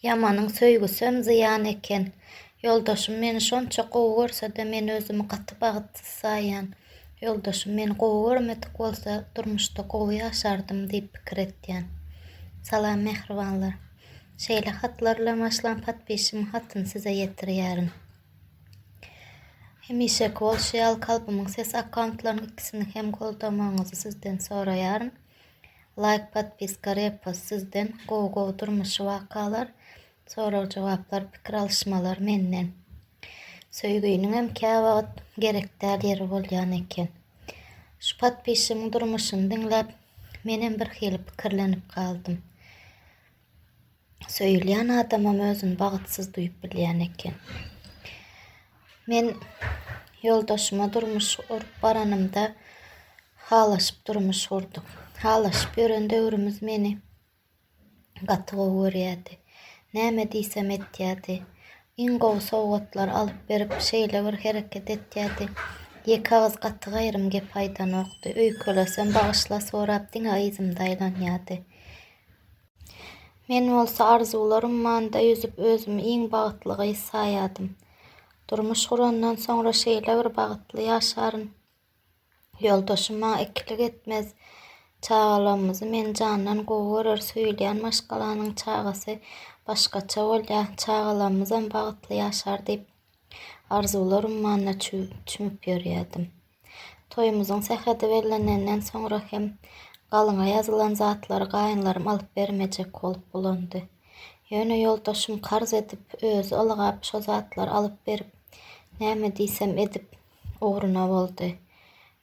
Ýamanyň söýgüsem zyýan eken. Ýoldaşym meni şonça gowy görse-de, men özümi gaty bagtsyz saýýan. Ýoldaşym meni gowy görmedik bolsa, durmuşda gowy ýaşardym diýip pikir etýän. Salam mähribanlar. Şeýle hatlar bilen başlan podpisimiň hatyny size ýetirýärin. Hemişeki bolşy ýaly Kalbymyň sesi akkauntlarynyň ikisini hem goldamagyňyzy sizden soraýaryn. Laýk podpiska repost sizden gowy gowy durmuşy wakalar sorag jogaplar pikir alyşmalar menden söýginiňem käwagt gerekdäl ýeri bolýan eken şu podpisçiň durmuşyny diňläp menem birhili pikirlenip galdym Söýülýän adamam özüni bagtsyz duýup bilýän eken. Men ýoldaşyma durmuş gurup baranymda halaşyp durmuş gurduk. Halaşyp ýören döwrümiz meni gaty gowy görýärdi. Näme diýsem etýärdi. Iň gowy sowgatlar alyp berip şeýle bir hereket etýärdi. Ýeke agyz gaty gaýrym gep aýdanokdy. Öýkelesem bagyşla sorap diňe yzymda aýlanýardy. Men bolsa arzuwlar ummanda ýüzüp özümi iň bagtly gyz saýadym. Durmuş gurandan soňra şeýle bir bagtly ýaşaryn. Ýoldaşym maňa ikilik etmez. Çagalarymyzy men jandan gowy görer, söýülýän maşgalanyň çagasy başgaça bolýar, çagalarymyzam bagtly ýaşar diýip, Arzuwlar ummanyna çümüp ýörýärdim. Toýumyzyň sähedi bellenenden soňra hem galyňa ýazylan zatlary gaýynlarym alyp bermejek bolup bulandy. Ýöne ýoldaşym karz edip, özi ylgap şo zatlary alyp berip, näme diýsem edip, ugruna boldy.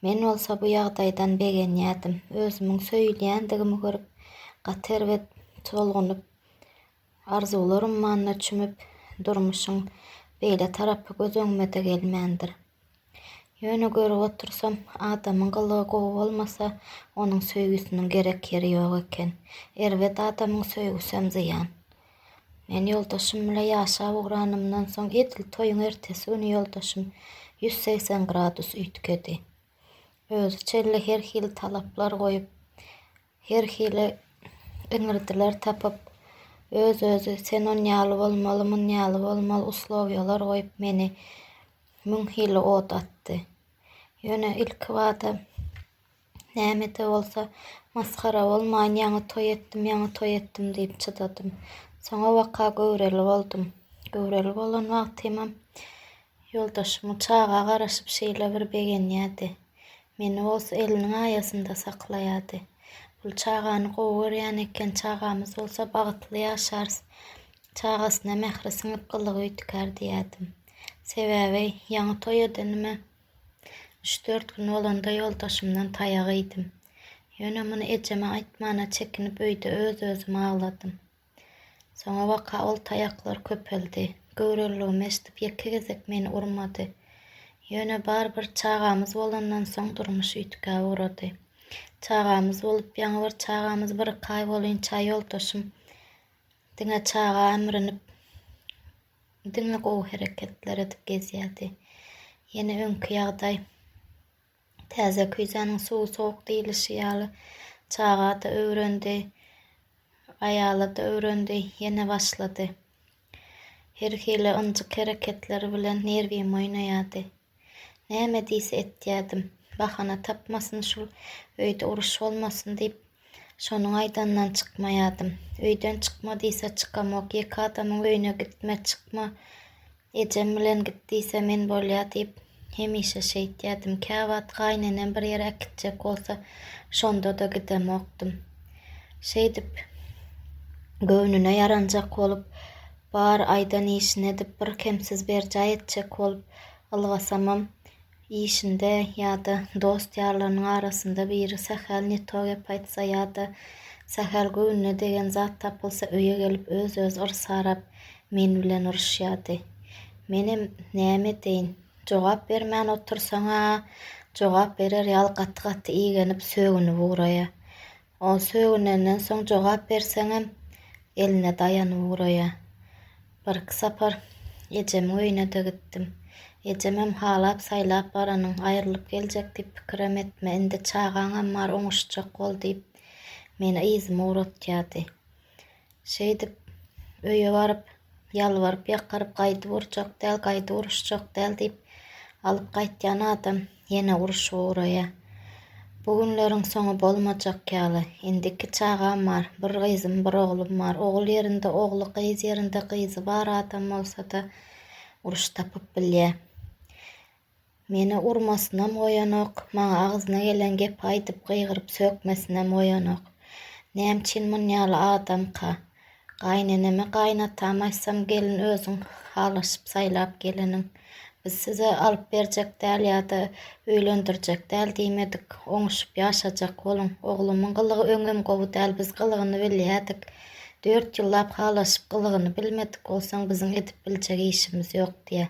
Men bolsa bu ýagdaýdan begenýärdim. Özümiň söýülýändigimi görüp, gaty erbet tolgunyp, Arzuwlar ummanyna çümüp, durmuşyň beýle tarapy göz öňüme-de gelmändir. Ýöne görüp otursam, adamyň gylygy gowy bolmasa, onuň söýgüsiniň gerek ýeri ýok eken. Erbet adamyň söýgüsem zyýan. Men ýoldaşym bile ýaşap ugranymdan soň, edil toýuň ertesi güni ýoldaşym ýüz segsen gradus üýtgedi. Özi çenli her hili talaplar goýup, Her hili iňirdiler tapyp, öz-özi sen on ýaly bolmaly, mun ýaly bolmaly uslowiýalar goýup meni müň hili ot atdy. Ýöne ilkibada näme-de bolsa masgara bolmaýyn, ýaňy toý etdim, ýaňy toý etdim diýip çydadym. Soňabaka göwreli boldum. Göwreli bolan wagtymam Ýoldaşymy çaga garaşyp şeýle bir begenýärdi. Meni bolsa eliniň aýasynda saklaýardy. Bul çagany gowy görýän eken, çagamyz bolsa bagtly ýaşarys. Çagasyna mähri siňip gylygy üýtgär diýýärdim. Sebäbi ýaňy toý edenime üç-dört gün bolanda ýoldaşymdan taýak iýdim. Ýöne muny ejeme aýtmana çekinip öýde öz-özüme agladym. Soňa waka ol taýaklar köpeldi. Göwreliligimi eşidip ýeke gezek meni urmady. Ýöne bar bir çagamyz bolandan soň durmuş üýtgä ugrady. Çagamyz bolup ýaňy bir çagamyz bir-iki aý bolýunça ýoldaşym diňe çaga emrinip diňe gowy hereketler edip gezýärdi. Ýene öňki ýagdaý Täze küýzäniň suwy sowuk diýlişi ýaly, çaga-da öwrendi, aýaly-da öwrendi, ýene başlady. Her hili ynjyk hereketleri bilen nerwim oýnaýardy. Näme diýse etýärdim. Bahana tapmasyn şul, öýde uruş bolmasyn diýip, şonuň aýdanyndan çykmaýardym. Öýden çykma diýse çykamok, ýeke adamyň öýüne gitme, çykma Ejem bilen git diýse men bolýa diýip hemişe şeýtýärdim. Käwagt gaýynenem bir ýere äkitjek bolsa şonda-da gidemokdym. Şeýdip göwnüne ýaranjak bolup, bar aýdan işini edip bir kemsiz berjaý etjek bolup ylgasamam, işinde ýa-da dost-ýarlarynyň arasynda biri sähel ne to gep aýtsa ýa-da sähel göwnüne degen zat tapylsa öýe gelip öz-öz yrs arap, men bilen uruşýardy. Menem näme edeýin, jogap bermän otursaň-a jogap berer ýaly gaty-gaty igenip sögünip ugraýar. Ol sögünenden soň jogap berseňem, eline daýanyp ugraýar. Birki sapar ejemiň öýüne-de gitdim. Ejemem halap-saýlap baranyň, aýrylyp geljek diýip pikirem etme, indi çagaňam bar, oňuşjak bol diýip, meni yzyma ugratýardy. Şeýdip, öýe baryp, ýalbaryp-ýakaryp gaýdyp urjak däl, gaýdyp uruşjak däl diýip, alyp gaýtýan adam ýene uruşyp ugraýar. Bu günleriň soňy bolmajak ýaly. Indi iki çagam bar. Bir gyzym, bir oglum bar. Ogul ýerinde ogly, gyz ýerinde gyzy bar adam bolsa-da, uruş tapyp bilýär. Meni urmasynam goýanok, maňa agzyna gelen gepi aýdyp gygyryp sökmesinem goýanok. Nämçin munýaly adamka? Gaýyneneme gaýynatam aýtsam gelin özüň halaşyp saýlap geleniň. Biz size alyp berjek däl ýa-da öýlendirjek däl diýmedik. Oňuşyp ýaşajak boluň. Oglumyň gylygy öňem gowy däl biz gylygyny bilýädik. Dört ýyllap halaşyp gylygyny bilmedik bolsaň biziň edip biljek işimiz ýok diýýä.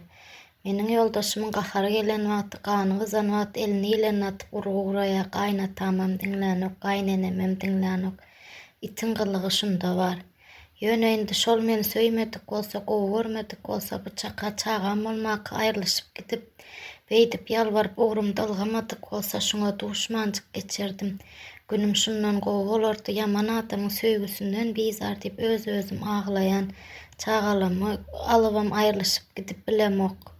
Meniň ýoldaşymyň gahary gelen wagty, gany gyzan wagty elini ilenine atyp urgy guraýar, gaýynatamam diňlänok, gaýynenemem diňlänok. Itiň gylygy şunda bar. Ýöne indi şol meni söýmedik bolsa, gowy görmedik bolsa, bu çaka çagam bolmaka aýrylyşyp gidip, beýdip ýalbaryp ugrumda ylgamadyk bolsa, şuňa duşmanjyk geçerdim. Günüm şundan gowy bolardy, ýaman adamyň söýgüsinden bizar diýip öz-özüm aglaýan. Çagalamy alybam aýrylyşyp gidip bilemok.